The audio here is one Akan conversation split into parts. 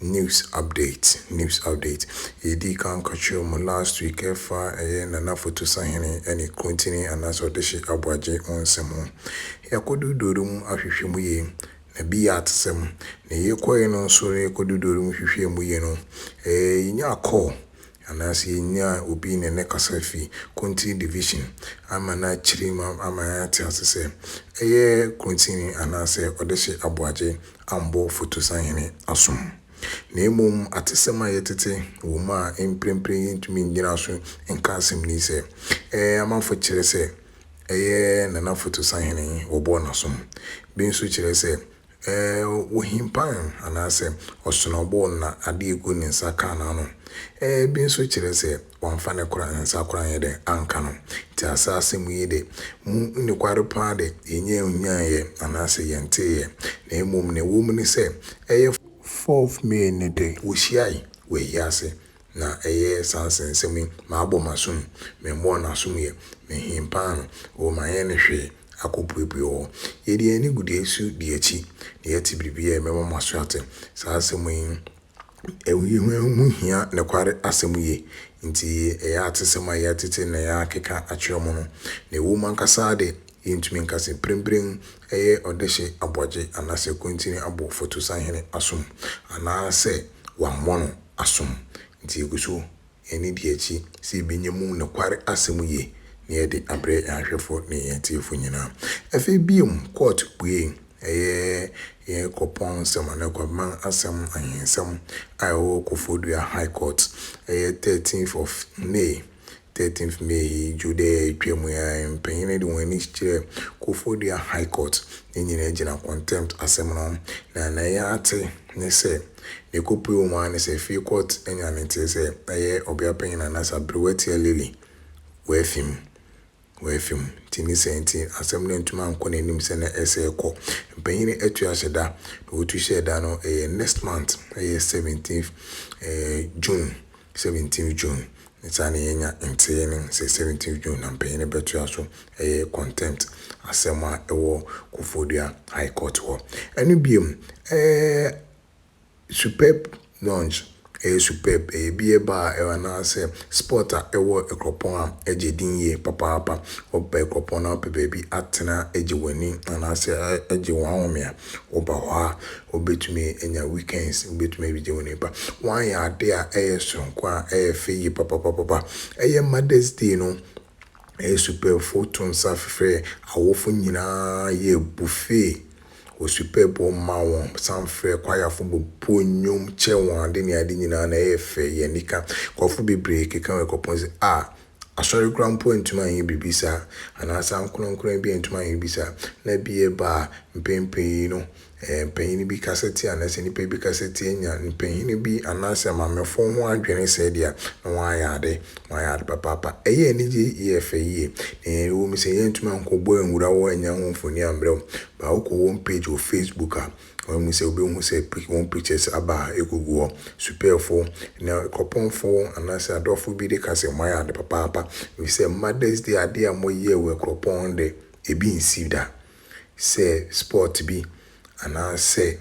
News update News update Yɛdii kan ka kyerɛɛ mo last week ɛfa ɛyɛ Nana Fotu Sahene ɛne Kuntini anaasɛ Ɔdehye Aboagye ho nsɛm ho. Yɛakɔ Dodori mu ahwehwɛ mu yie, na bi yɛ atesɛm. Na yɛkɔeɛ no nso na yɛkɔ Dodori mu hwehwɛɛ mu yie no, ɛɛ yɛnyaa call Anaase yɛnyaa obi ne no kasa fi Kontini Division ama no akyiri mu ama yɛate ase sɛ ɛyɛ Kontini anaasɛ Ɔdehye Aboagye Ambo Fotusanhene Asom. Na mmom atesɛm a yɛtete wɔ mu a mprempren yɛntumi nnyina so nka asɛm ni sɛ, Ɛɛ, amanfo kyerɛ sɛ ɛyɛ Nana Fotusanhene wɔbɔɔ n'asom. Bi nso kyerɛ sɛ Ɛɛ, wohim pan anaasɛ ɔsono bo na ade a egu ne nsa ka n'ano. Ɛɛ, ebi nso kyerɛ sɛ wamfa ne kora nsa kora anyɛ dɛ anka no. Enti asa asɛm yi de, mu nokware paa de, yɛnyɛ nhuan'eɛ anaasɛ yɛnteeɛ, na mmom nea ɛwɔ mu ne sɛ, ɛyɛ. Fourth May no de, wohyiae wɔ ahiase. Na ɛyɛ saa nsɛnsɛm yi, Mabɔ m'asom, memmɔɔ n'asom yɛ, menhee paano, oo manyɛ no hwee akɔpuepue wɔ hɔ. Yɛde yɛn anibudeɛ su di akyi, na yɛte biribiara a ɛbɛma mo aso ate. Saa asɛm yi ho hia nokware asɛm yie, enti ɛyɛ atesɛm a yɛatete na yɛakeka akyerɛ mo no. Na ɛwom ankasa ara de, yɛntumi nka sɛ mprempren ɛyɛ ɔdehye aboagye anaasɛ kwantini abɔ Fatu Sahene asom, anaasɛ wammɔ no. asom. Ntsi yegu so hɛn ediakyi sɛ yebenya mu nokwar asɛm yie na yɛde abrɛ hɛn ahwɛfo nye hɛn etsiefo nyina. Afei bio, Kurt buei, Ɛyɛ yɛn kuropɔn nsɛm anaa Kwabeman asɛm ahensɛm a ɛwɔ Koforidua High Court, ɛyɛ thirteenth of May, Thirteenth May yi dwo dɛ etwa mu yi ara, mpanyin no de hɔn enyi kyerɛɛ Kofordua High Court ne nyina gyina contempt asɛm no ho, na na yɛatse nye sɛ ne kɔpue wɔ mu ara nye sɛ fie court enya ne ntsee sɛ ɔyɛ ɔbeapanyin anaa sɛ aberewa tsia Lily wɔ efi mu. wɔn afi mu. Nti ne saa nti, asɛm no antumi ankɔ n'anim sɛnea ɛsɛ rekɔ. Mpanyin no atu ahyɛ da, na wɔtu hyɛɛ da no, ɛyɛ next month, ɛyɛ seventeenth June, seventeenth June, ne saa na yɛanya nteeɛ no sɛ seventeenth June na mpanyin no bɛtoa so, ɛyɛ contempt asɛm a ɛwɔ Koforidua High Court hɔ. Ɛno bio, ɛɛ. Superb launch ɛyɛ superb ɛyɛ beer bar a ɛwɔ anaasɛ spot a ɛwɔ Ɛkorɔpɔn a ɛgye din yie papaapa. Woba Ɛkorɔpɔn na wopɛ baabi atena agye w'ani anaasɛ agye w'ahome a, woba hɔ a wobɛtumi anya weekends wobɛtumi abɛgye w'ani pa. Wɔayɛ adeɛ a ɛyɛ sononko a ɛyɛ fɛ yie papapapapa. Ɛyɛ Mother's Day no Asuapɛfo to nsa frɛɛ awofo nyinaa yɛɛ buffet wɔ suapɛp hɔ maa wɔn san frɛɛ kwayafo bobɔɔ nnwom kyɛɛ wɔn ade ne ade nyinaa na ɛyɛɛ fɛ yɛɛ anika. Nkurɔfo bebree kekaa wɔ ɛkɔpon sɛ, A! Asɔre koraa mpo antumi anyɛ biribi saa, anaa saa ankonankoran bi antumi anyɛ biribi saa. Ná bi reba a, mpɛn pii no Ɛɛ, mpanyin bi kasa tie anaa sɛ nnipa bi kasa tie nya mpanyin bi anaa sɛ maamefo ho adwene sɛɛ deɛ a, na wɔayɛ ade, wɔayɛ ade papaapa. Ɛyɛ anigye yɛ fɛ yie. Na yɛn, ɛwom sɛ yɛantumi ankɔbɔ anwura hɔ annya ho mfoni ammrɛ wo, but wokɔ wɔn page wɔ Facebook a, wɔn mu sɛ wobɛhu sɛ pic, wɔn pictures aba a ɛgugu hɔ. Supɛɛfo ne Kɔpɔmfo anaa sɛ Adɔfo bi de ka sɛ moayɛ ade papaapa, ɛfiri sɛ Mother's Day adeɛ a moyɛɛ wɔ Akuropɔn de, ɛbi nsi da. sɛ spɔt bi anaasɛ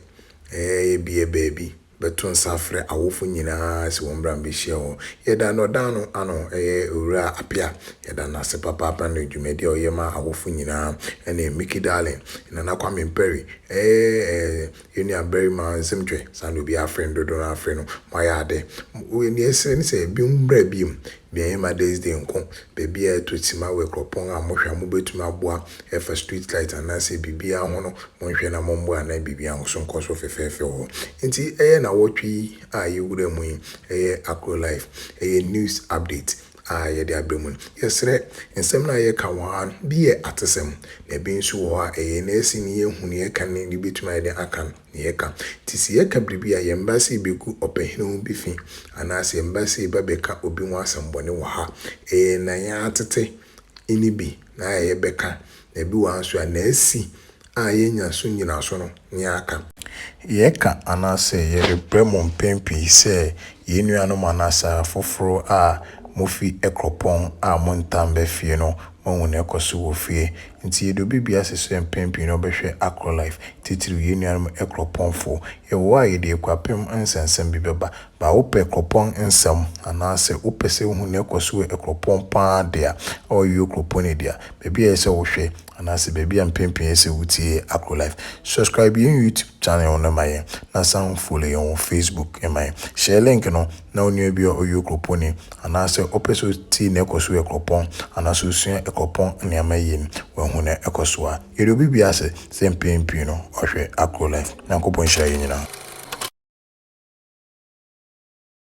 ebia baabi, bɛto nsa afrɛ awofo nyinaa sɛ wɔmmra mmɛhyia hɔ. Yɛda no ɔdan no ano, ɛyɛ Owura Appiah, yɛda no ase papaapa ne dwumadi a ɔyɛ ma awofo nyinaa, ɛne Mickey Darling, Nana Kwame Mperry, ɛɛ, Yɛn nua barima nsɛm twɛ saa na obiara afre no dodow no ara afre no mo ayɛ ade wei nea yɛsrɛ ne sɛ binom mmra biom bia yɛn mother's day nko baabi a ɛtɔ sima wɔ akuropɔn a mo hwɛ a mo bɛtumi aboa ɛfa street light anaasɛ biribiara ho no mo nhwɛ na mo mmoa na biribiara nso nkɔ so fɛfɛɛfɛ wɔ hɔ nti ɛyɛ nawɔtwe yi a yɛwura mu yi ɛyɛ Akro life ɛyɛ news update a yɛde abrɛ mu no, yɛsrɛ, nsɛm no a yɛka wɔ ha no, bi yɛ atesɛm, na bi nso wɔ hɔ a, ɛyɛ yɛn asi na yɛahu nea ɛka ne nea ebetumi ayɛ den aka nea yɛka. Enti sɛ yɛka biribi a, yɛmma sɛ yebegu ɔpahini ho bi fi, anaasɛ yɛmma sɛ yɛba bɛka obi ho asɛmmɔne wɔ ha. Ɛyɛ nea yɛatete nne bi na ayɛ a yɛbɛka, na bi wɔ ha nso a, na asi a yenya so nnyinaso no ne aka. Yɛka anaasɛ yɛrebrɛ mo mpɛn pii sɛ yɛn nuanom anaasɛ afoforo a mufi kuropɔn a montaa mma fie no moahu nea ɛkɔ so wɔ fie. Enti yɛde obi bi ase sɛ mpɛn pii no ɔbɛhwɛ Acrolife, titiriw yɛn nuanom kuropɔnfo. Yɛwɔ hɔ a yɛde akuapem nsɛnsɛm bi bɛba. Baa wopɛ kuropɔn nsɛm anaasɛ wopɛ sɛ wuhu nea ɛkɔ so wɔ kuropɔn paa de a, ɛwɔ Uyo Kuropɔn no de a, baabi a ɛsɛ sɛ wohwɛ anaasɛ baabi a mpɛn pii ɛsɛ wotie Agro Life. Subscribe yɛn YouTube channel no ma yɛn na san follow yɛn wɔ Facebook ma yɛn. Hyɛ link no na onua bi a ɔyɛ okuropɔnni anaasɛ ɔpɛ sɛ ɔtie na ɛkɔ so wɔ kuropɔn anaasɛ ɔsua kuropɔn nneɛma yie no wahu na ɛkɔ so a. Yɛde obi bi ase sɛ mpɛn pii no ɔhwɛ Agro Life. Nyankopɔn nhyira yɛn nyinaa.